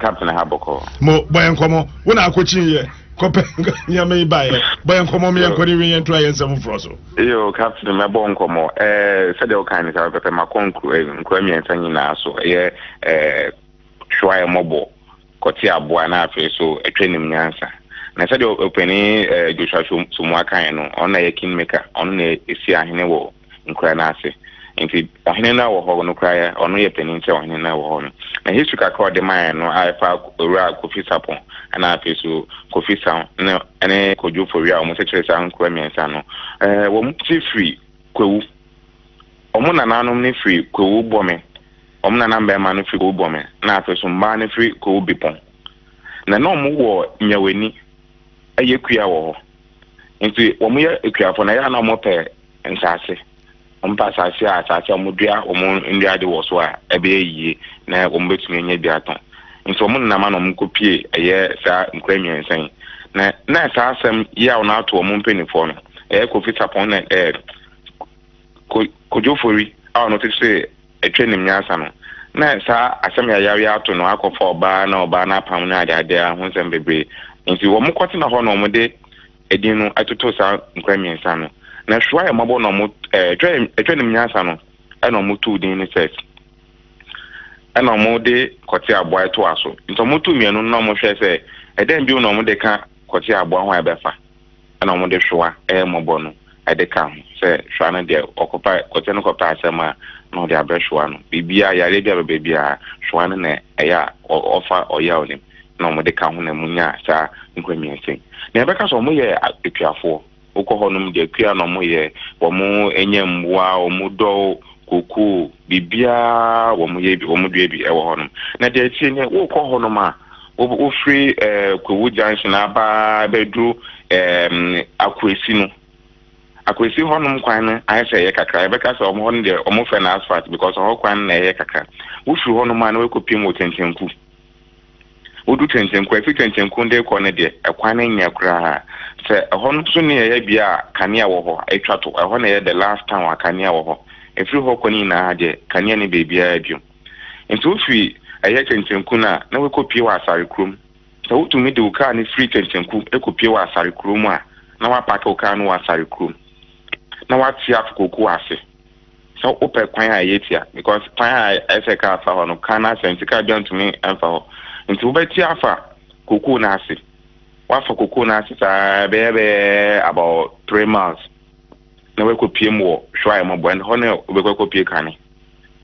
captain ha bɔkɔ. mo bɔ yɛn nkɔmɔ wo na akɔkyi yɛ kɔpɛ nneɛma yi baeɛ bɔ yɛn nkɔmɔ mi yɛn nkɔ ne wie yɛn ntura yɛn nsɛm foforɔ so. yo captain mɛbɔ nkɔmɔ ɛɛ eh, sɛdeɛ wokan ne saa pɛpɛ makɔ nkura eh, nkura mmiɛnsa nyinaa so ɛyɛ eh, ɛɛ eh, hwa yɛ mmɔbɔ kɔte aboa na afei so atwa nim nyansa na sɛdeɛ ɔpani ɛɛ joshua somu akan no ɔno na yɛ kingmaker ɔno na ɛsi ahene wɔ nkura no ase. Nti ɔhene no a wɔ hɔ no koraa ɔno yɛ panin kyɛ ɔhene no a wɔ hɔ no. Na history kakra a ɔde maeɛ no a ɛfa owura Kofi Sapon ɛna afei so Kofi San ne ɛne Kojo Fowia a wɔn kyekyere saa nkura mmiɛnsa no. Ɛɛ wɔn ti firi Kwewu. Wɔn nananom no firi Kwewu Bɔme. Wɔn nana mmarima no firi Kwewu Bɔme na afei so mmaa no firi Kwewu Bepɔn. Na na wɔn wɔ Nyawani ɛyɛ kua wɔ hɔ. Nti wɔn yɛ akuafo na ɛyɛ a na wɔn pɛ nsaase. Wɔn pɛ asaase a asaase a wɔn dua wɔn nnua de wɔ so a ɛbɛyɛ yie na wɔn bɛtumi anya bi atɔn. Nti wɔn nenam a na wɔn kɔ pie ɛyɛ saa nkura mmiɛnsa yi. Na na saa asɛm yi a wɔn ato wɔn mpanimfoɔ no ɛyɛ Kofi Sapon na ɛɛ Ko Kodwo Fori a wɔn tete Atwa nim nyansa no, na saa asɛm yayaw yi ato no akɔfa ɔbaa na ɔbaa no apam ne adeade ara ho nsɛm bebree. Enti wɔkɔtena hɔ na wɔde edin no totoo saa nkuraa mmiɛnsa no. Na Hwɛ Ayɛ Mmɔbɔ na wɔn, ɛɛ, Atwa Nim Nyansa no na wɔtoo din no Sex, ɛna wɔde Kɔte Aboa toaa so. Enti wɔtoo mmienu no na wɔhwɛɛ sɛ ɛdɛn bio na wɔde ka Kɔte Aboa ho a ɛbɛfa. na wɔde hwewa yɛ mmɔbɔ no de ka ho, sɛ hwewa no deɛ ɔkɔpa kɔtɛ no kɔpɛ asɛm a na ɔde abrɛ hwewa no, biribiara yareɛ bi a ɛbɛba biara hwewa no na ɛyɛ a ɔfa ɔyaw no mu na wɔde ka ho na wɔnyaa saa nkwamiase yi. Na yɛbɛka sɛ wɔyɛ akuafoɔ, wokɔ hɔ nom deɛ akua na wɔyɛ, wɔnya mmoa, wɔdɔ kokoo, biribiara wɔyɛ bi, wɔdua bi wɔ hɔ nom. Na deɛ ɛteɛ nie, wokɔ hɔ nom a, Wofiri Kwawu junction aba bɛduru Akwasi no, Akwasi hɔnom kwan no ayɛ sɛ ɛyɛ kakra. Yɛbɛka sɛ wɔn hɔ no deɛ wɔfrɛ no asphalt because ɛhɔ kwan no na ɛyɛ kakra. Wofiri hɔnom a na wakɔpem wɔ Tɛntɛnku. Wodu Tɛntɛnku a, ɛfiri Tɛntɛnku de kɔ no deɛ, ɛkwan no nyɛ koraa. Sɛ ɛhɔ no nso ne ɛyɛ bea a kanea wɔ hɔ, ɛtwa to. Ɛhɔ na ɛyɛ the last town a kanea wɔ hɔ. Ɛfiri hɔ kɔ no nyinaa deɛ, kanea nni baabiara bio. Enti wofi ɛyɛ kɛntɛnku no a, na woakɔpue wɔ asare kuro mu. Sɛ wotumi de wo kaa no firi kɛntɛnku kɔpue wɔ asare kuro mu a, na woapaake wo kaa no wɔ asare kuro mu, na woate afokokuo ase sɛ wopɛ kwan a ɛyɛ tia, because kwan a ɛsɛ kaa fa hɔ no, kaa no asɛ nti kaa bia ntumi mfa hɔ. Nti wobɛte afa kokuo no ase, woafa kokuo no ase saa bɛyɛ bɛyɛ about three miles. na wɔakɔpiem wɔ hwɛ a ɛmmɔ bɔ, ɛnna hɔ na wobɛkɔ akɔpie kane.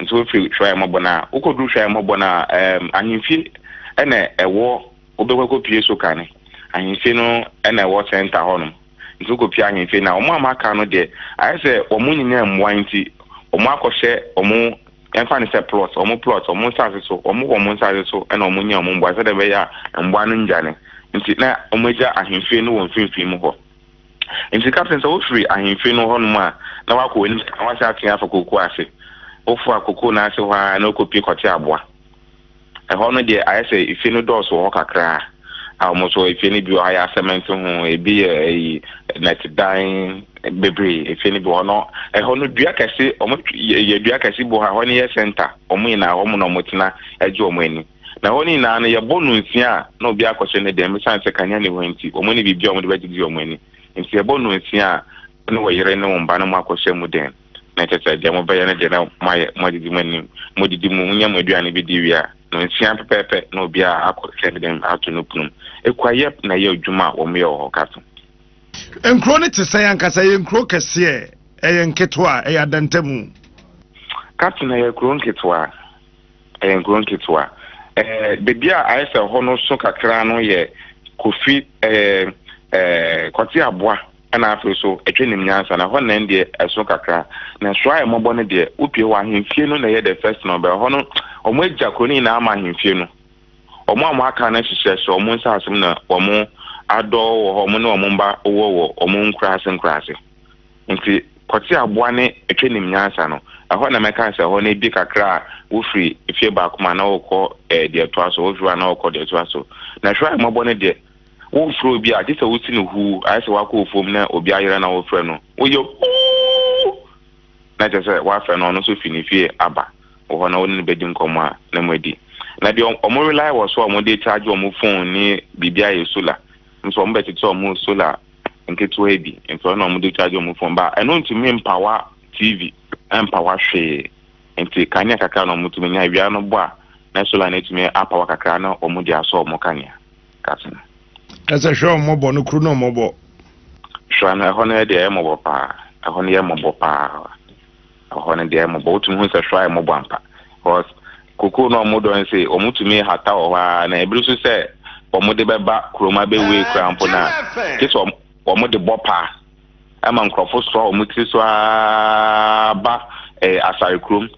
Nso wofiri hwɛ a ɛmmɔ bɔ no a, wokɔduru hwɛ a ɛmmɔ bɔ no a, ɛɛm ahemfie ɛna ɛwɔ wobɛkɔ akɔpie so kane. Ahemfie no ɛna ɛwɔ sɛnta hɔnom. Nti wokɔpie ahemfie no a, wɔn a wɔaka no deɛ, ayɛ sɛ wɔn nyinaa mmoa nti, wɔn akɔhyɛ wɔn ɛmfa no sɛ plot, wɔn plot, wɔn nsase so, wɔn wɔ wɔn nsase so ɛna wɔn nya wɔn mmoa sɛdeɛ ɛbɛyɛ a mmoa no nnyane. Nti na wɔagya ahemfie no wɔ mfimfini mu hɔ. Enti kapten, sɛ wofiri ahemfie no hɔnom a, na woakɔ w'anim kakra na woasan atea afa kookoo ase. Wofoa kookoo no ase hɔ ara na wokɔpue kɔte aboa. Ɛhɔ no deɛ, ayɛ sɛ efie no dɔɔso wɔ hɔ kakra, a wɔn nso efie no bi wɔ hɔ a yɛ asɛmɛnte ho, ebi yɛ ɛyi nnɛtedan bebree. Efie no bi wɔ hɔ no, ɛhɔ no dua kɛse, wɔyɛ dua kɛse bi wɔ hɔ a ɛhɔ no yɛ sɛnta. Wɔn nyinaa hɔ na wɔtena gye wɔn ani. Na hɔ no nyinaa no, yɛbɔ nnɔn nsia a na obiara akɔhyɛ ne dɛm, esiane sɛ kanea nni hɔ nti, wɔn ani biribiara a wɔde bɛgyegye wɔn ani. Enti yɛbɔ nnɔn nsia a, wo ne wo yere ne wo mma no moakɔhyɛ mo dɛm, na kyerɛ sɛ, deɛ mobɛyɛ no deɛ na moayɛ, moagyegye mo ani, modidi mu, monya mo aduane bi di wie a, nnɔn nsia pɛpɛɛpɛ na obiara akɔhyɛ ne dɛm ato ne pono mu. Ekua Yep na ɛyɛ adwuma a wɔyɛ wɔ hɔ ka to. Nkuro no te sɛn ankasa? Ɛyɛ nkuro kɛseɛ? Ɛyɛ nketewa? Ɛyɛ adantamu? Ka to, Ɛyɛ kuro nketewa. Ɛyɛ nkuro nketewa. Ɛɛ baabi a ayɛ sɛ ɛhɔ no so kakra no yɛ Kofi ɛɛ ɛɛ Kwate Aboa ɛna afei so Atwa Nim Nyansa na ɛhɔ nɛn deɛ ɛso kakra. Na Soro Ayɛ Mmɔbɔ no deɛ wopie hɔ ahemfie no na ɛyɛ the first no bɛ ɛhɔ no wɔn agya kuro no nyinaa ama ahemfie no. Wɔn a wɔn aka no ahyehyɛ so wɔn nsaase mu na wɔn adɔ wɔ hɔ wɔn ne wɔn mma wɔ wɔ wɔn nkuraase nkuraase. Enti kɔte aboa ne ɛtwa nim nyansa no. Ɛhɔ na mɛka sɛ ɛhɔ no ebie kakra a wofiri efie baako mu anaa wokɔ ɛɛ deɛ ɛtoa so, wofiri hɔ anaa wokɔ deɛ ɛtoa so. Na hwɛ ahummɔbɔ no deɛ, womfrɛ obi a, gye sɛ wosi no huu, ayɛ sɛ wakɔ ofuom na obi ayera na wofrɛ no, woyɛ Ooh! Na kyerɛ sɛ woafrɛ no, ɔno nso fi ne fie aba wo hɔ na wo ne no bɛdi nkɔmmɔ a na moadi. Na deɛ wɔn rely wɔ so a wɔde charge wɔn phone ne biribi a ɛyɛ solar nso wɔbɛtete wɔn solar nketewaa bi nso ɛna wɔn de charge wɔn phone ba ɛno ntumi mpawa tv ɛmpawa hwee nti kanea kakra na wɔn tumi nya awia no bɔ a na solar no etumi apawa kakra na wɔn de asɔ wɔn kanea kase no. Ɛsɛ hwɛ wɔn mɔbɔ no kuru na wɔn mɔbɔ. Hwɛ no ɛhɔ no yɛ deɛ ɛyɛ mɔbɔ paa ɛhɔ no yɛ mɔbɔ paa. Ɛhɔ no deɛ mmɔbɔ, wotumi hu sɛ hwaa yɛ mmɔbɔ ampa. Because kokoo no a wɔdɔ no sei, wɔtumi hata wɔ hɔ ara na ebiri nso sɛ wɔde bɛba kurom abɛwei koraa mpo no a, gye sɛ wɔde bɔ paa ɛma nkurɔfo soa wɔn tiri so ara ba eh, asare kurom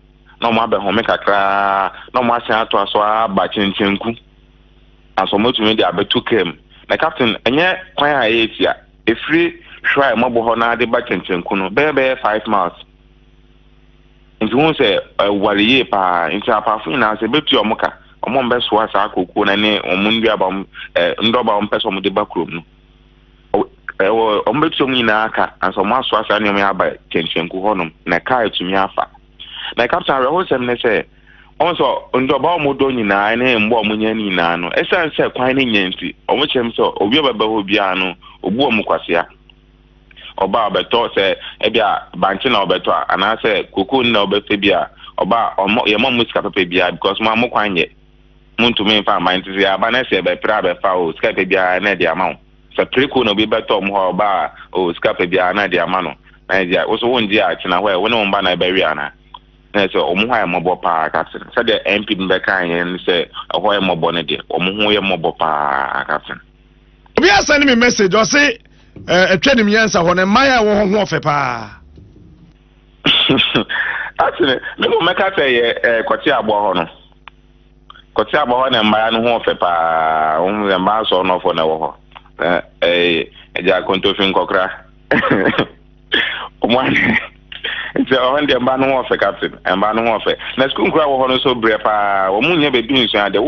na wɔn abɛhome kakraa na wɔn asan atoa so ara ba kyenkyenku. Nanso wɔtumi de abɛto kaa mu. Na captain, ɛnyɛ kwan a ɛyɛ tia. Ɛfiri Hwerae mmɔbɔ hɔ no ara de ba Kyɛnkyɛnku no, bɛyɛ bɛyɛ five miles. Nti wohu sɛ ɛware yie pa ara. Nti apaafo nyinaa, sɛ ɛbɛtua wɔn ka, wɔmmɛsoa saa kooko no ne wɔn nnuaba, wɔn ɛ ndɔba a wɔpɛ sɛ wɔde ba kurom no. Ɔ ɛwɔ wɔbɛtua wɔn nyinaa ka ansa wɔasoa saa nneɛma yi aba Kyɛnkyɛnku hɔnom, na kaa atumi afa. Na Captain awerɛhosɛm ne sɛ, ɔhu sɛ ndɔba a wɔdɔ nyinaa ne mmoa a wɔnya no nyinaa no, esiane sɛ kwan no nnya nti, wɔkyerɛ mu sɛ obi a ɔbɛba hɔ biara no, obu wɔn kwasea. Ɔba a ɔbɛtɔ, sɛ ebia bankye na ɔbɛtɔ a, anaasɛ kokoo no na ɔbɛpɛ bi a, ɔba a ɔmmɔ, yɛmmɔ mo sika papa biara because mo a mo kwan nyɛ. Montumi mfa mma, nti sɛ yɛaba na sɛ yɛbɛpere a bɛfa o, sika pɛ biara na ɛde ama wo. Sɛ preko na obi bɛtɔ wɔn hɔ a, ɔba a, oh, sika pɛ biara na ɛde ama no. Na ɛde a, wo nso wongye a, tena hɔ ɛ, wo ne wo mma na ɛbɛwe anaa? Na ɛsɛ wɔn hɔ ayɛ mmɔbɔ paa, Catherine. Sɛdeɛ MP no bɛkae yɛn ne sɛ, ɛhɔ yɛ mmɔbɔ no deɛ, wɔn ho yɛ mmɔbɔ paa, Catherine. Obi asɛne me message, ɔse, eh, atwa nim yɛnsa hɔ no, mmaa a ɛwɔ hɔ ho ɔfɛ paa. Catherine, me mmom mɛka sɛ yɛ eh, kɔte aboa hɔ no. Kɔtse aba hɔ na mbaa no ho wɔ fɛ paa. Wohu dɛ mbaa asɔrnɔfoɔ na ɛwɔ hɔ. Na ɛyɛ agya kontofi nkɔkora. Wɔn ade. Nti ɛwɔ hɔ no deɛ mbaa no ho wɔ fɛ captain. Mbaa no ho wɔ fɛ. Na sukuu nkora wɔ hɔ no nso brɛ paa. Wɔn nyɛ baabi nsua ade.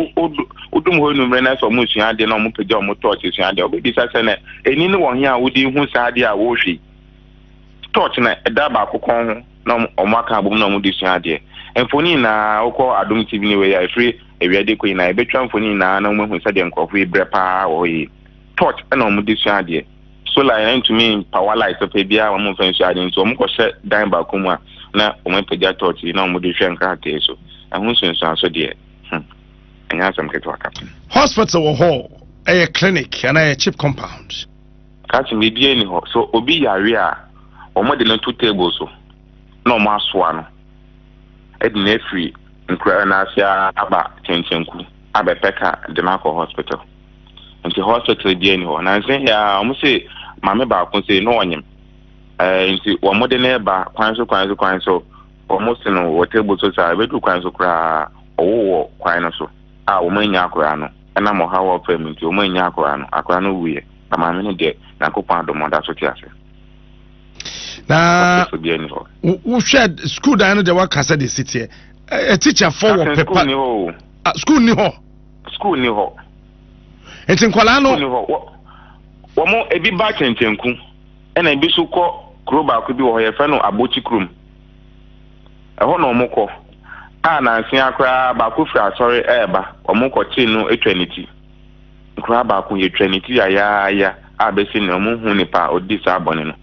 Wodum hɔ enumere na sɛ wɔn sua ade na wɔn pagya wɔn tɔɔkye sua ade. Wɔbɛbisa sɛ na ɛni no wɔ he a wode hu saa ade a wɔrehwɛ yi. Tɔɔkye na ɛda baako kɔn ho. na wɔaka abom na wɔde sua adeɛ. Mfoni nyinaa, wokɔ Adom TV ne wei a, ɛfiri awia de kɔ nyinaa, yɛbɛtwa mfoni nyinaa na wɔahu sɛdeɛ nkurɔfoɔ yi brɛ paa wɔ hɔ yie. Torch na wɔde sua adeɛ. Solar yɛn ntumi mpawa light papa biara wɔn mfa nsua adeɛ nti wɔn kɔhyɛ dan baako mu a na wɔn apagya torch yi na wɔde hwɛ nkrataa yi so. Ɛho nsunsuanso deɛ, hmm, ɛnyɛ asɛm ketewa, Captain. Hospital wɔ hɔ, ɛyɛ clinic anaa ɛyɛ chip compound. Ka kyerɛ me, biribiara nni hɔ. Sɛ obi yare a, wɔde no to table so na wɔasoa no de no afiri nkuraa no ase ara aba Kyɛnkyɛnku abɛpɛ ka de no akɔ hospital. Nti hospital biara nni hɔ. Nansa yi ara wɔn se maame baako sei na ɔnyem. Ɛɛ nti wɔde no reba kwan so kwan so kwan so wɔn se no wɔ table so saa ɛbɛduru kwan so koraa ɔwo wɔ kwan no so a wɔn annya akwaraa no ɛnam ɔhaw a ɔfam nti wɔn annya akwaraa no akwaraa no wuiɛ. Na maame no deɛ, Nyankopɔn adom ɔda so te ase. Na Ɔtefo biara ni hɔ. wohwɛ sukuu dan no deɛ waka sɛ deɛ siteɛ atikyafo wɔ pepa. Sukuu ni hɔ o. Sukuu ni hɔ. Sukuu ni hɔ. Nti nkwadaa no. Sukuu ni hɔ. Wɔn ebi ba kyɛnkyɛnku ɛna ebi so kɔ kuro baako bi wɔ hɔ yɛfrɛ no abokyi kurom ɛhɔ na wɔn kɔ a nansia koraa baako firi asɔre ɛɛba wɔn kɔ kye no atwa ne ti. Koraa baako yɛtwaa ne ti yayaaya a bɛsi nnɛ wɔnhu nipa a ɔdii saa bɔne no.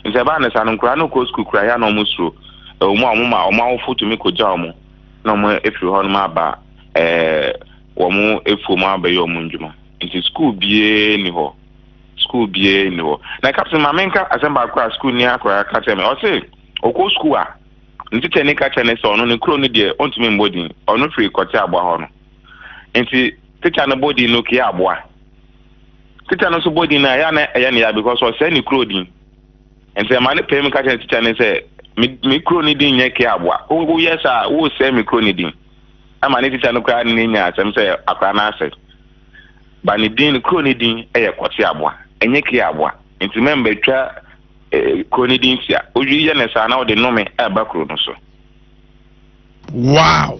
Enti ɛbaa no saa no, nkoraa no kɔɔ sukuu koraa yɛ a na wɔn suro, ɛwɔ mu a wɔn ma wɔn awofo tumi kɔgyaa wɔn na wɔn afiri hɔ nom aba wɔn afuo mu abɛyɛ wɔn ndwuma. Nti sukuu biara nni hɔ, sukuu biara nni hɔ. Na kapsin ma menka asɛm baako a sukuuni akoraa ka kyerɛ me, ɔse ɔkɔ sukuu a ne tikyani ka kyerɛ ne sɛ ɔno ne kuro no deɛ ɔntumi mmɔ din, ɔno firi kɔte aboa hɔ no. Nti. Tikya no bɔ din no kua aboa. Tikya no nso bɔ din no a, ɛyɛ a na ɛyɛ no ya because ɔsɛe ne kuro din. Nti ɛma no pae mu ka kyerɛ tikya no sɛ, me, me kuro no din nyɛ kua aboa. Wo, woyɛ saa a, woresɛe me kuro no din. Ɛma ne tikya no koraa ne nya asɛm sɛ akwadaa no asɛe. Ba ne din, ne kuro no din yɛ kɔte aboa, ɛnyɛ kua aboa. Nti mɛmba twa eh, kuro no din tia. Woyɛ no saa na wode nnome ɛba kuro no so. Wow!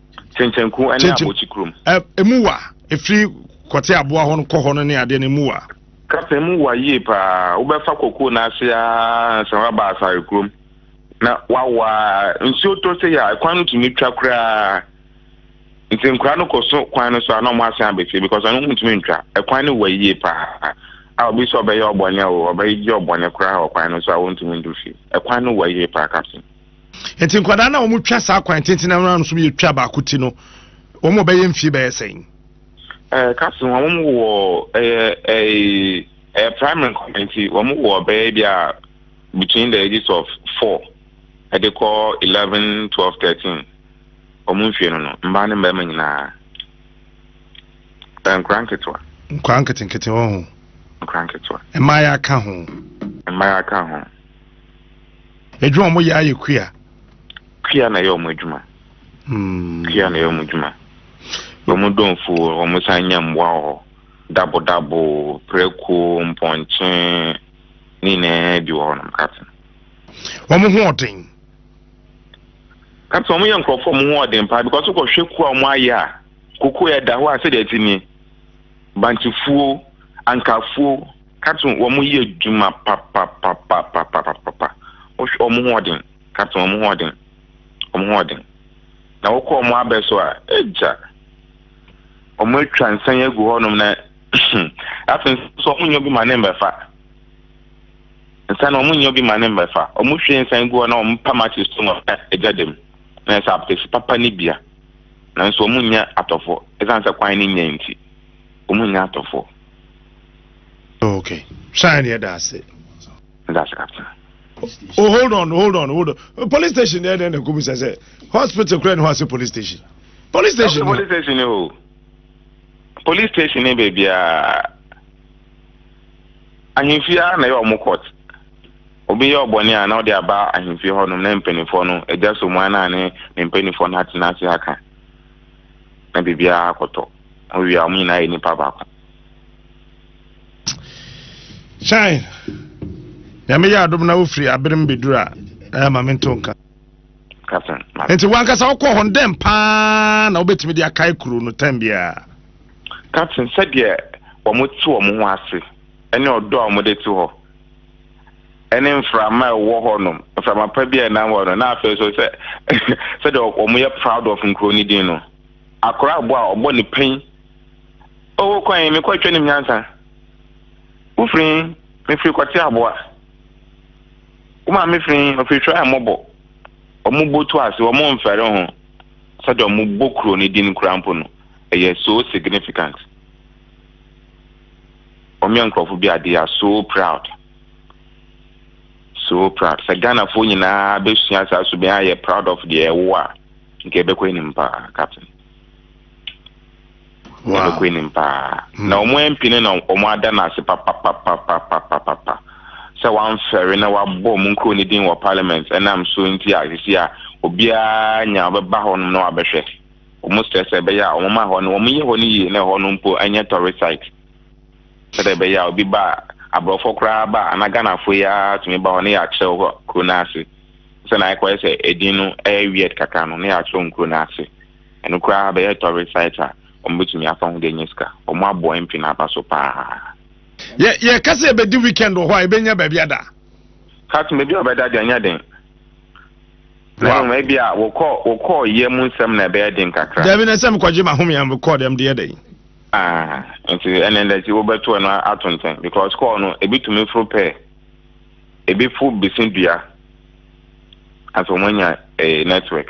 kyenkyenku ne abɔkyi kurom. emu wa efiri kɔte aboa hɔ no kɔ hɔ no ne adeɛ no emu wa. kasa emu wa yie paa wobɛfa koko n'ase aa sɛ waba asare kurom na wawa nsuo tɔ sɛ yɛ kwan no tumi twa koraa nti nkora no kɔ so kwan no so a na ɔmo asan abɛfie because ɔno mo tumi ntwa ɛkwan no wa yie paa a obi sɛ ɔbɛyɛ ɔbɔne o ɔbɛyɛ ɔbɔne koraa wɔ kwan no so a wɔntumi ndu fie ɛkwan no wa yie paa kapsen. Nti nkwadaa na wɔn twa saa kwan tenten na wɔn nso yɛ twa baako ti no wɔn a wɔbɛyɛ mfie bɛyɛ sɛn. Ɛɛ kasi wɔn wɔn wɔ ɛyɛ ɛɛ ɛyɛ primary nkwadaa nti wɔn wɔ bɛyɛ bi a between the ages of four ɛde kɔ eleven twelve thirteen wɔn mfie no no mmaa ne mmarima nyinaa ɛɛ nkwadaa nketewa. nkwadaa nketenkete wɔn ho. nkwadaa nketewa. mmaa yɛ aka ho. mmaa yɛ aka ho. Adwuma wɔn yɛ ayɛ kua. Kua na ɛyɛ wɔn adwuma. Hmm. Kua na ɛyɛ wɔn adwuma. Wɔn dɔnfo wɔn san nya mmoa wɔ hɔ. Dabodabo, prɛko, mpɔnkye ne nyinaa bi wɔ hɔ nom kate. Wɔn ho ɔden. Kate wɔn yɛ nkurɔfoɔ wɔn ho ɔden paa because wokɔhwɛ kua wɔn ayɛ a koko yɛ da hɔ a sɛdeɛ ɛte nie. Bankyefuo, ankafuo. Kato wɔn yɛ adwuma papapapapapapapa. Wohwɛ wɔn ho ɔden. Kato wɔn ho ɔden. Wɔn ho ɔden. Na wokɔ wɔn abɛ so a, agya. Wɔn atwa nsan agu hɔnom na afei nso wɔn nyɛ bi ma ne mbɛfa. Nsan na wɔn nyɛ bi ma ne mbɛfa. Wɔn hwie nsan gu hɔ na wɔn pa makyi so na agya dɛm. Na ɛsɛ apɛsi papa ne bia. Nanso wɔn nyɛ atɔfo. Ɛsan sɛ kwan ne nyɛ nti. Wɔn nyɛ atɔfo. Okay. Shine the other say. That's captain. Oh, hold on, hold on, hold on. Police station there, then the Kubu says, eh, hospital, crane, who has a police station? Police station. Oh, police station, oh. Police station, eh, baby. Ah. ahemfie ara na ɛyɛ ɔmo court obi yɛ ɔbɔne a na ɔde aba ahemfie hɔ nom na mpanyinfoɔ no agya so mu ana ne ne mpanyinfoɔ no atena ase aka na biribiara akɔtɔ. Wowie a, wɔn nyinaa yɛ nipa baako. Kyae, Nyame yɛ adom na wofiri aberem bɛduru a, ɛyɛ ma me nto nka. Captain, ma. Nti wankasa wokɔ hɔ no, dɛn paa na wobɛtumi de akae kuro no tɛm biara? Captain, sɛdeɛ wɔn te wɔn ho ase, ɛne ɔdɔ a wɔn de te hɔ. ne mframa a ɛwɔ hɔ nom, mframa pa bi a ɛnam hɔ no, na afei nso sɛ sɛdeɛ wɔn yɛ proud of nkuro no din no, akora abo a ɔbɔ ne pɛn. Ɔwɔ kwan yi, mekɔ atwa nim nyansa. Wofiri, mefiri kɔte aboa. Wo maame firi, ɔfiri hwɛ a mmɔbɔ. Wɔn bɔ tu ase, wɔn mfɛre ho. Sɛdeɛ wɔn bɔ kuro no din kura mpo no, ɛyɛ so significant. wɔn yɛ nkurɔfo bi a they are so proud so proud sɛ ghanafoɔ nyinaa bɛsua saa so bɛn ayɛ proud of deɛ ɛwo a nka ɛbɛkɔ anim paa captain ɛbɛkɔ anim paa hmm. na wɔn mp no na wɔn ada no ase papapapapapapa sɛ wɔamfɛre na wɔabɔ wɔn nkuro no din wɔ parliament ɛnam so nti a sisi a obiara nya ɔbɛba hɔ nom na wɔabɛhwɛ wɔsrɛ sɛ ɛbɛyɛ a wɔma hɔ no wɔyɛ hɔ no yie na ɛhɔ no mpo ɛnyɛ tourist site sɛdeɛ ɛbɛyɛ a obi ba a aborɔfoɔ koraa ba a anaa Ghanafoɔ yi ara tumi ba hɔ na yɛakyerɛw hɔ kuro no ase sɛnea ayɛ kɔyɛ sɛ edin no ɛyɛ weird kakra no na yɛakyerɛw nkuro no ase ɛno koraa bɛyɛ tourist site a wɔbɛtumi afa ho de anya sika wɔn aboa MP no aba so paa yɛ yɛka sɛ yɛbɛdi weekend wɔ hɔ a yɛbɛnya baabi ada ka tumi bi a ɔbɛda deɛ ɛnyɛ den Wow. Mɛhwɛ ebi a wɔkɔ wɔkɔ yɛ mu nsɛm na ɛbɛyɛ den kakra. Dabi na sɛ mekɔgye mahome a mekɔɔ dɛm deɛ dɛn. Ah, nti ɛnɛ ndɛ ti wobɛto ɛno ato ntɛn because kɔɔ no ebi tumi foro pɛɛ ebi fo besi dua asɛ wɔn anya eh, network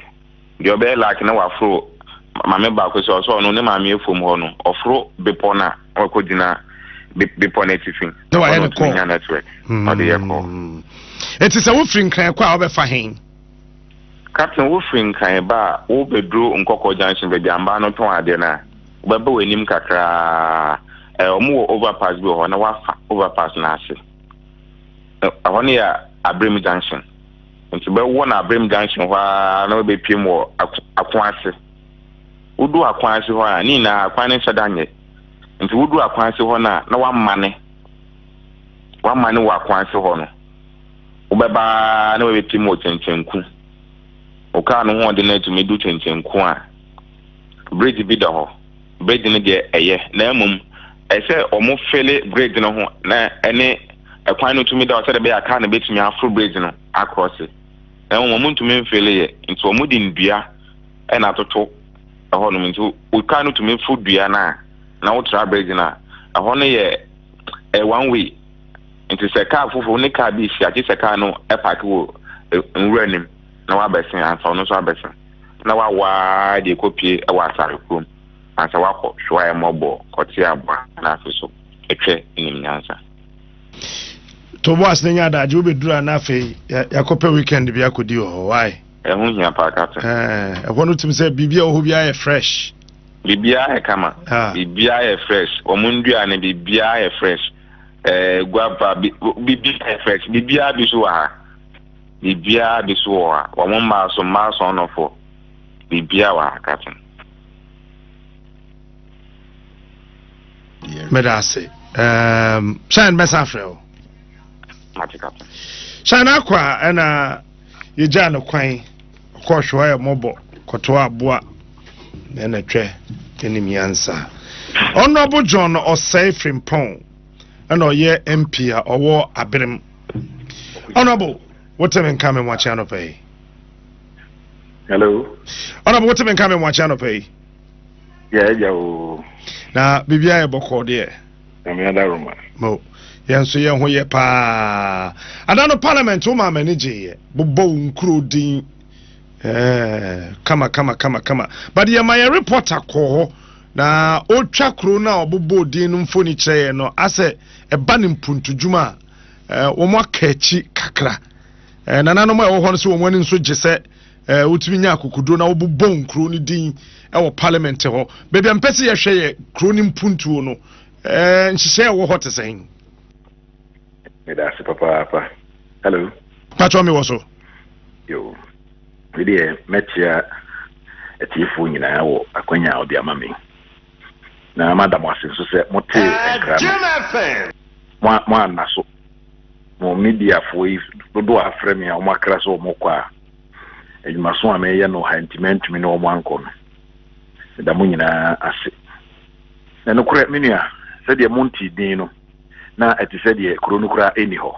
deɛ ɔbɛyɛ laaki na waforo maame baako sɛ ɔsɛ ɔno ne maame efom hɔ no ɔforo bepɔ no a Ɔkɔgyina bepɔ no atifi. Na wayɛ no kɔɔ. Nya network. Hmm. Ɔde yɛ kɔɔ. Eti sɛ wofiri nkran kɔ a wobɛfa hen? Captain wofiri nkran ba a wobɛduro nkɔkɔ junction baabi ambaa no tɔn adeɛ no a wobɛba w'anim kakraa ɛɛ wɔn wɔ overpass bi wɔ hɔ na wafa overpass no ase ɛhɔ no yɛ abirem junction nti bɛwɔ no abirem junction hɔ ara na wobɛpiem wɔ ako ase. wodu akwan ase hɔ a, ne nyinaa akwan no nhyɛ da nyɛ. Nti wodu akwan ase hɔ no a, na wamane. Wamane wɔ akwan ase hɔ no, wobɛba na wabɛpim wɔ kyenkyenku. Wo kaa no hoɔden no atumi du kyenkyenku a, bridge bi da hɔ. Bridge no deɛ ɛyɛ, na mmom ɛsɛ wɔn fele bridge no ho na ɛne ɛkwan no tumi da hɔ sɛdeɛ ɛbɛyɛ a kaa no bɛtumi aforo bridge no akorɔse. Na mmom wɔn ntumi mfele yɛ, nti wɔn de nnua na atoto hɔnom nti kar no tumi fo dua no a na wotra bridge no a, ɛhɔ no yɛ ɛyɛ one way nti sɛ car foforɔ ne car bi hyia gye sɛ car no paake wɔ nwura no mu na wabɛsen ansa ɔno nso abɛsen na wawaa deɛ kɔpie wɔ asare kurom ansa wakɔ hwɛwaeɛ mmɔbɔ kɔte aboa no afe so ɛtwɛ nim nyansa Toboas na nya adagye wobɛduru a na afei yɛakɔpɛ weekend bi akɔdi wɔ hɔ wae Ɛho hia paa Captain. Ɛɛ, ɛhɔ no tumi sɛ biribi a ɛwɔ hɔ biara yɛ fresh. Biribiara yɛ kama. Biribiara yɛ fresh. Wɔn nnua no biribiara yɛ fresh. Ɛɛ, guava biribiara yɛ fresh. Biribiara bi so wɔ ha. Biribiara bi so wɔ ha. Wɔn mmaa so mmaa sɔnnɔfoɔ. Biribiara wɔ ha Captain. Meda ase. Ɛɛm, hyɛn bɛsa afrɛ o. Mate Captain. Hyɛn akɔ a ɛna. yegyaa no kwan ɔkɔɔ hwɛ ayɛ mmɔbɔ kɔtoa aboa na ɛna twɛ ne nyansa ɔnɔbo john ɔsɛe frimpɔn ɛna ɔyɛ mp a ɔwɔ aberem ɔnɔbo wotemi nka me mmoakye anɔpa yi hello ɔnɔbo wotemi nka me mmoakye anɔpa yi yɛagya o na biribiaa yɛ bɔkɔɔ deɛ Nyame adaroma. Mo, yɛn nso yɛn ho yɛ paa. Ada no parliament wo maa m'ani gyeeɛ. Bobɔ wo nkuro din. Eh, kama kama kama kama. But yɛ ma yɛ reporter kɔɔ hɔ na ɔtwa kuro no a ɔbobɔ din no mfoni kyerɛ yɛn no asɛ ɛba ne mpuntudwuma a eh, wɔn aka akyi kakra. Eh, nananom a ɛwɔ hɔ no sɛ wɔn ani nso gye sɛ Eh, wotumi nya akokoduro na wobobɔ nkuro no din eh, wɔ parliament hɔ baabi a mpɛ sɛ yɛhwɛ yɛ kuro no mpuntuo no eh, nhyehyɛ ɛwɔ hɔ te sɛn meda ase papaapa hello patwɔ me wɔ so yo medeɛ mɛkyea atiefoɔ nyinaa wɔ akwanya a ɔde ama me na mada mo ase nso sɛ motee eh, nkra no moanna so mo mediafoɔ yi dodoɔ afrɛ me a wɔakra sɛ wɔmɔkɔ a Adwumaso a meyɛ no wɔ ha nti mantumi ne wɔn ankɔ no. Meda mo nyinaa ase. Na nokorɛ, me nua, sɛdeɛ montee din no, na ɛte sɛ deɛ kuro no koraa nni hɔ.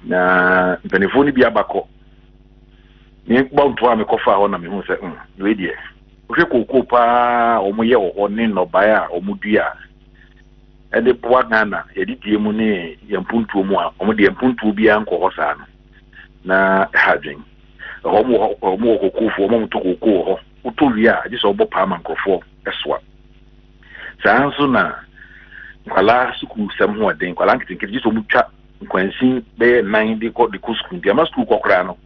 Na mpanimfoɔ no bi aba kɔ. Mebɔ ntoa a mekɔfaa hɔ na mehuu sɛ, mm, wei deɛ, wohwɛ kookoo paa a wɔyɛ wɔ hɔ ne nnɔbaeɛ a wɔdua a ɛde boa Ghana yɛde die mu ne yɛn mpuntuo mu a, wɔde mpuntuo biara nkɔ hɔ saa no. na ɛha adwen ɛhɔ mo wɔ hɔ mo wɔ kokofoɔ ɔma motɔ koko wɔ hɔ wotɔ wie a agye sɛ ɔbɔ paa ma nkurɔfoɔ ɛsoa saa nso na nkwalaa sukuu sɛm ho ɔden nkwalaa nketenkete gye sɛ ɔmo twa nkwansin bɛyɛ nan de kɔ de kɔ sukuu nti ama sukuu kɔ koraa no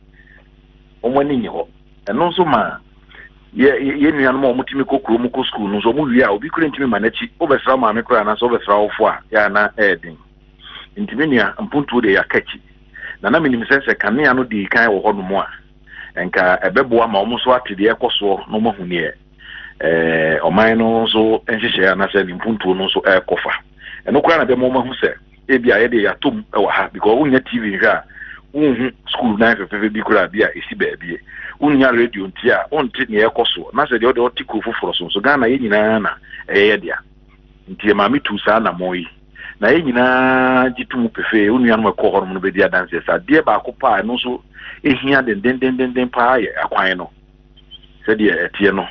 ɔmo ani nye hɔ ɛno nso ma yɛ yɛ nuanom a ɔmo tumi kɔ kurom kɔ sukuu no nso ɔmo wie a obi kura ntumi ma n'akyi wobɛsra maame koraa anaasɛ wobɛsra ɔfo a yɛ ana ɛɛden ntumi nua mpuntuo deɛ yɛaka akyi na na minim sɛ sɛ kanea no dii kan wɔ hɔnom a, anka ɛbɛboa ma wɔn nso ate deɛ ɛrekɔ soɔ na wɔahu neɛ eh, ɔman no nso nhyehyɛe anaasɛ ne mpuntuo no nso ɛrekɔ fa. Ɛno koraa na ɛbɛma wɔn ahu sɛ ebi a yɛdeɛ yɛatɔ mu wɔ ha because wonnya TV nhwɛ a wonhu sukuu nan fɛfɛɛfɛ bi koraa bi a ɛsi baabie. Wonnya radio nti a wonte neɛ ɛrekɔ soɔ na sɛ deɛ ɔde ɔte kuro foforɔ so nso Ghana yɛ nyinaa na ɛyɛ yɛ dea. Nti ɛma metuu saa anammɔn yi. na yɛn nyinaa gye to mu pefee. Wo nuanom a ɛkɔɔ hɔnom no bɛdi adanseɛ sɛ adeɛ baako paa ɛno nso ɛhia dendendenden paa yɛ akwan no. Sɛdeɛ ɛteɛ no,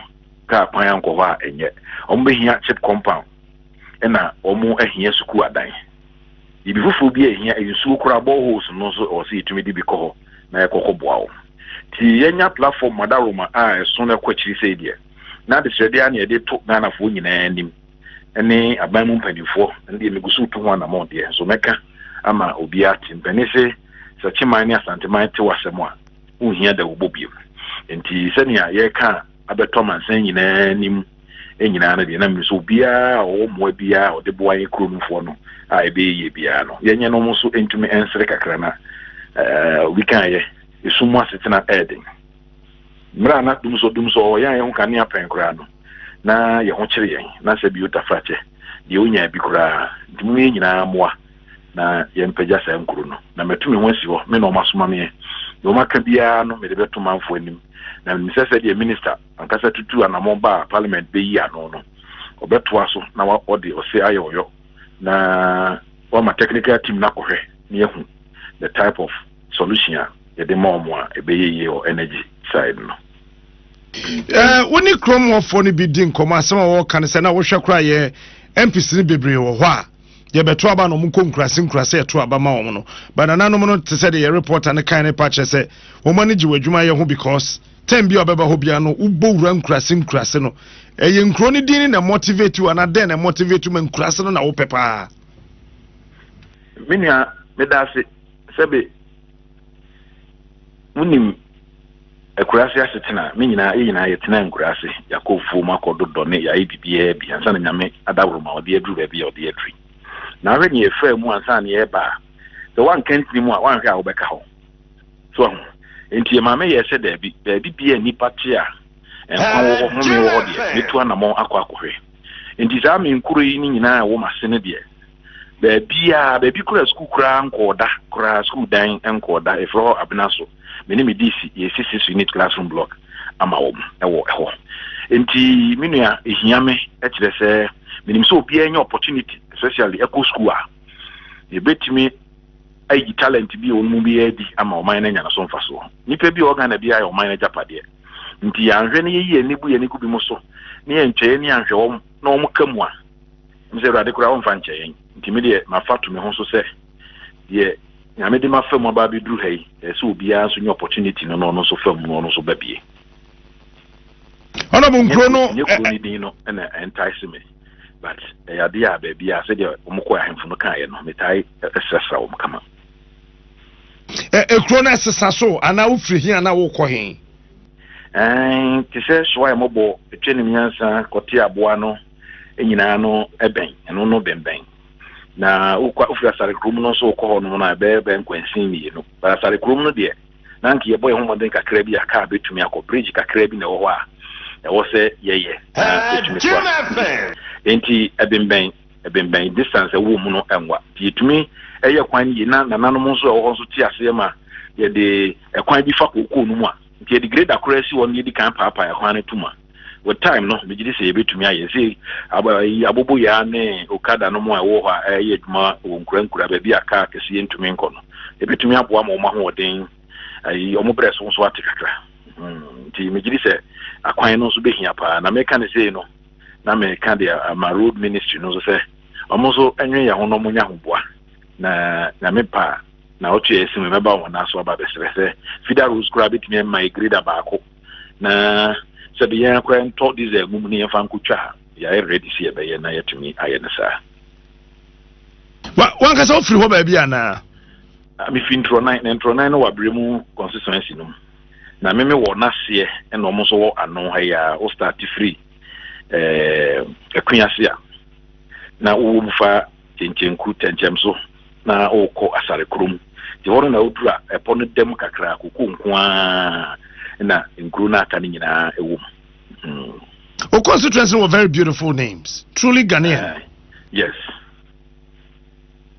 kaa kwan ankɔ hɔ a ɛnyɛ. Wɔn bɛhia chip compound ɛna wɔn ahia sukuu adan. Biribi foforɔ bi a ɛhia nsuo koraa boreholes no nso ɛwɔ sɛ yɛtumi de bi kɔ hɔ na yɛkɔkɔ boa wɔn. Nti yɛnya platform Madaroma a ɛso no ɛkɔ akyiri sei deɛ, na adesrɛdeɛ a na yɛde to Ghanafoɔ nyinaa anim. ne aban mu mpanimfoɔ ɛno deɛ megu so retu ho anammɔn deɛ nso mɛka ama obiara ate mpanin se sɛ kyeman ne asanteman te w'asɛm a wonhia da wobɔ biom nti sɛnea yɛreka abɛtɔ amansan nyinaa nim nyinaa no deɛ na mene sɛ obiara a ɔwɔ mmoa biara a ɔde boa yɛn kuro nofoɔ no a ɛbɛyɛ yie biara no yɛnyɛ no mo so ntumi ɛnsere kakra na obi kaeɛ ɛsum mu asetena ɛɛden Mmerɛ a na dumsɔ dumsɔ wɔ yɛn a yɛn ho kanea pɛn koraa no, na yɛn ho kyere yɛn, na sɛ bio tafrakyɛ deɛ ɔnyaa bi koraa. Nti moma yɛn nyinaa mmoa na yɛmpagya saa nkuro no, na matu me ho asi hɔ, me na wɔasoma meɛ. Deɛ wɔaka biara no mede bɛto manfoɔ anim, na menim sɛ sɛdeɛ Minista ankasa tutuu anamɔn baa Parliament bɛyii ano no, ɔbɛtoa so na ɔde ɔse ayɛ ɔyɔ na wama technical team no akɔhwɛ na yɛahu the type of solution a yɛde ma wɔn a ɛbɛyɛ yie wɔ energy side no. Eh, wo ne kurom wɔfoɔ no bi di nkɔmmɔ asɛm a wɔka no sɛ na wohwɛ koraa yɛ mpc no bebree wɔ hɔ a yɛbɛto aba na ɔmo nkɔ nkurase nkurase ɛto aba ma wɔn no banananom no te sɛ de yɛ reporter no kan ne pa kyerɛ sɛ wɔn ani gye wɔ adwuma yɛ ho because tɛn bi a ɔbɛba hɔ bia no wobɔ wura nkurase nkurase no ɛyɛ nkuro no din na motivate wo anaa dɛn na motivate ma nkurase no na wopɛ paa. menua meda ase sɛbe Wonim akuraase asetena, me nyinaa, yɛ nyinaa yɛtenaa nkuraase, yɛakɔ afuom akɔ dodɔ ne yɛayɛ biribiara bi ansa na Nyame adaworo ma ɔde aduru baabi a ɔde aduru. Na ahwɛ nea ɛfaa mu ansa na yɛreba a, sɛ woanka ntini mu a, woanhwɛ a wobɛka hɔ. So ahu? Enti yɛ maame yɛɛ sɛ daabi, baabi bi a nnipa te a nkwa wɔ hɔ, home wɔ hɔ deɛ, mɛtu anammɔn akɔ akɔhwɛ. Enti saa me nkuro yi ne nyinaa a ɛwɔ m'ase no deɛ, baabiaa, baabi koraa sukuu koraa nkɔɔ da koraa, sukuu dan nkɔɔ da, ɛfiri hɔ abena so, me ne me DC, yɛsi six unit classroom block ama wɔn ɛwɔ ɛhɔ. Nti me nua ɛhia me ɛkyerɛ sɛ menim sɛ obiara nya opportunity especially ɛkɔ sukuu a yɛbɛtumi ayi talent bi a wɔn mu bi yɛ adi ama ɔman no anya no so mfasoɔ. Nipa bi a ɔgana bi ayɛ ɔman no agyapadeɛ nti yɛanhwɛ ne yɛyi yɛn ani gu yɛn ani gu bi mu so ne yɛntwɛ yɛn ani anhwɛ wɔn na wɔn ka mu a Ɔno sɛ Awurade koraa ɔmfa nkyɛ yɛn. Nti me deɛ mafa to me ho so sɛ deɛ Nyame de mafa mu aba abɛduru ha yi, ɛyɛ sɛ obiara nso nya opportunity no na ɔno nso fa mu na ɔno nso ba bie. Ɔnabɔ nkuro no. Ɛnyɛ kuro no din no na entice me but ɛyɛ adeɛ a baabi a sɛdeɛ wɔn kɔ ahemfo no kaeɛ no metaa ɛsrasra wɔn kama. Ekuro no ɛsesa so anaa wofiri he anaa wokɔ he? Ɛɛn te sɛ soa a ɛmɔbɔ etwa nim nyansa kɔte aboa no. nyinaa no bɛn ɛno no bɛnbɛn na wokɔ wofiri asare kurom no nso wokɔ hɔ nom no a ɛbɛyɛ bɛn nkwansin mmienu but asare kurom no deɛ na anka yɛbɔ yɛn ho mmɔden kakra bi a kaa bɛtumi akɔ bridge kakra bi na ɛwɔ hɔ a ɛwɔ sɛ yɛyɛ na ɛtumi so a enti ɛbɛnbɛn ɛbɛnbɛn distance ɛwɔ mu no ɛnwa nti yɛtumi ɛyɛ kwan yie na nananom nso ɛwɔ hɔ nso te aseɛ ma yɛde ɛkwan bi fa kookoo no mu a nti yɛde greda koraa si hɔ no yɛdi kan paapaa ɛkwan no to mu a with time no megye di sɛ yɛbɛtumi ayɛ sɛ eh, aboboyaa ne okada no mu a ɛwɔ hɔ a ɛyɛ adwuma wɔ nkura nkura baabi a kaa kɛseɛ ntumi nkɔ no ɛbɛtumi aboa ma wɔn ahoɔden eh, wɔn berɛ so nso ate kakra hmm, nti megye di sɛ akwan no nso bɛhia paa na meka ne sei no na meka deɛ eh, ma road ministry no nso sɛ wɔn nso nwe yɛn ho na wɔnya ahoboa na nyame paa na ɔto yɛ ɛsi mu mɛba wɔn aso aba bɛsrɛ sɛ fida rose koraa bɛtumi ama ɛgreda baako na sɛde yɛn akora ntɔ diesel mum na yɛmfa nkotwa a yɛayɛ ready sɛ yɛbɛyɛ na yɛatumi ayɛ no saa. Wankasa wofiri hɔ baabi anaa? Ah, mefi ntorɔnan na ntorɔnan no wɔ aberɛ mu constituency no mu na meme wɔ n'aseɛ ɛna ɔmo nso wɔ ano ha yi a wo start firi ɛɛ eh, ɛkwe ase a na wowɔ mu fa kyenkyenku tɛnkyɛmso na ɔrekɔ asare korɔ mu. Nti hɔ no na ɔduru a, ɛpɔ no dam kakra, koko nko ara na nkuro no aka no nyinaa wɔ mu. Mm. O constituency no wɔ very beautiful names. Truly Ghanaian. Uh, yes.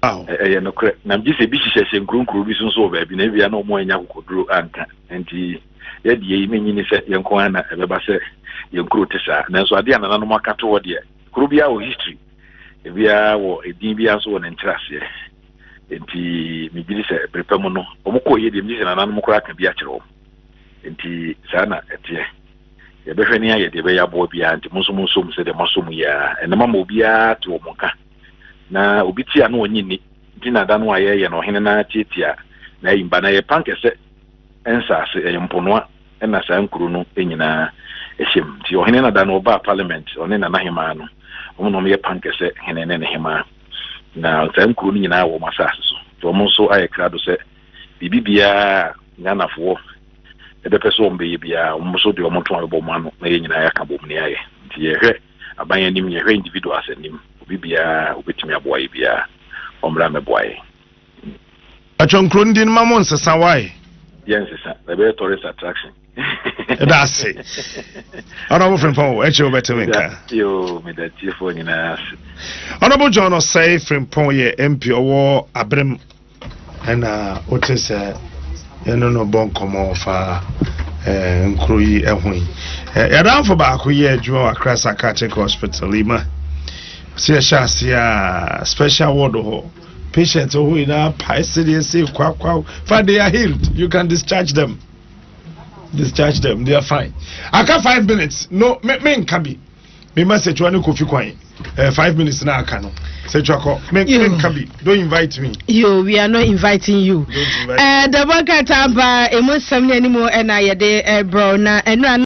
ɛyɛ nokorɛ na megye sɛ ebi hyehyɛhyɛ nkuronkuro bi so nso wɔ baabi na ebia na ɔmo anya kokoduro anka nti yɛde yɛyi menyi ne sɛ yɛnko ara na ɛbɛba sɛ yɛn kuro te saa nanso adeɛ a nananom aka to hɔ deɛ kuro biara wɔ history Ebiara wɔ edin biara nso wɔ ne nkyerɛaseɛ. Enti megye di sɛ bere pa mu no, wɔkɔɔ yie deɛ, megye di sɛ nananom koraa aka bi akyerɛ wɔn. Enti saa na ɛteɛ. Yɛbɛhwɛ ne ayɛ deɛ ɛbɛyɛ aboa biara, nti mo nso monsɔ mu sɛdeɛ moasɔ mu yi ara. Ɛnnɛ mama obiara te wɔn nka. Na obi te a na ɔnnye nni, nti na da no a yɛreyɛ no ɔhene no ara tiatia n'ayimba. Na ɛyɛ pankɛsɛ nsaase, ɛyɛ mponoa. na saa nkuro no nyinaa hyɛ mu. Nti ɔhene no da no ɔbaa parliament, ɔne nanahemaa no, wɔn na wɔyɛ pankɛsɛ hene ne ne hemaa. Na saa nkuro no nyinaa wɔ wɔn asase so. Nti wɔn nso ayɛ krado sɛ biribi biara a Ghanafoɔ bɛpɛ sɛ wɔn bɛyɛ biara, wɔn nso de wɔn ntoma bɛbɔ wɔn ano na yɛn nyinaa yɛaka bom na yɛayɛ. Nti yɛhwɛ aban anim, yɛhwɛ individuals anim, obi biara a ɔbɛtumi aboa yɛn biara, ɔmmra mmɛboa yɛn. Atwa nkuro no din ma mo nsesa why? Yɛ nsesa, na ɛbɛyɛ tourist attraction. Ɛda ase. Honorable Frimpong, ɛkyɛ wo bɛte me nka. Yoo, meda tiefoɔ nyinaa ase. Honorable John Osei Frimpong yɛ MP ɔwɔ Aberem. Ɛna wote sɛ yɛne no bɔ nkɔmmɔ fa eh, nkuro yi ho yi. Eh, yɛdanfo baako yɛ adwuma wɔ Accra Psychiatric Hospital yi ma. Sɛ yɛhyɛ ase a special ward hɔ. Patient wɔ hɔ nyinaa pae sedeɛ se kwakwaw fa they are healed you can discharge them discharge them they are fine aka five minutes no me me nka bi me ma setua ne kofi kwan eh, five minutes na aka no setua kɔ me me nka bi don't invite me. yo we are not inviting you. ɛɛ dɛbɔ nkrataa ba emu nsɛm ne anim ɛna yɛde ɛbrɛw na ɛnura.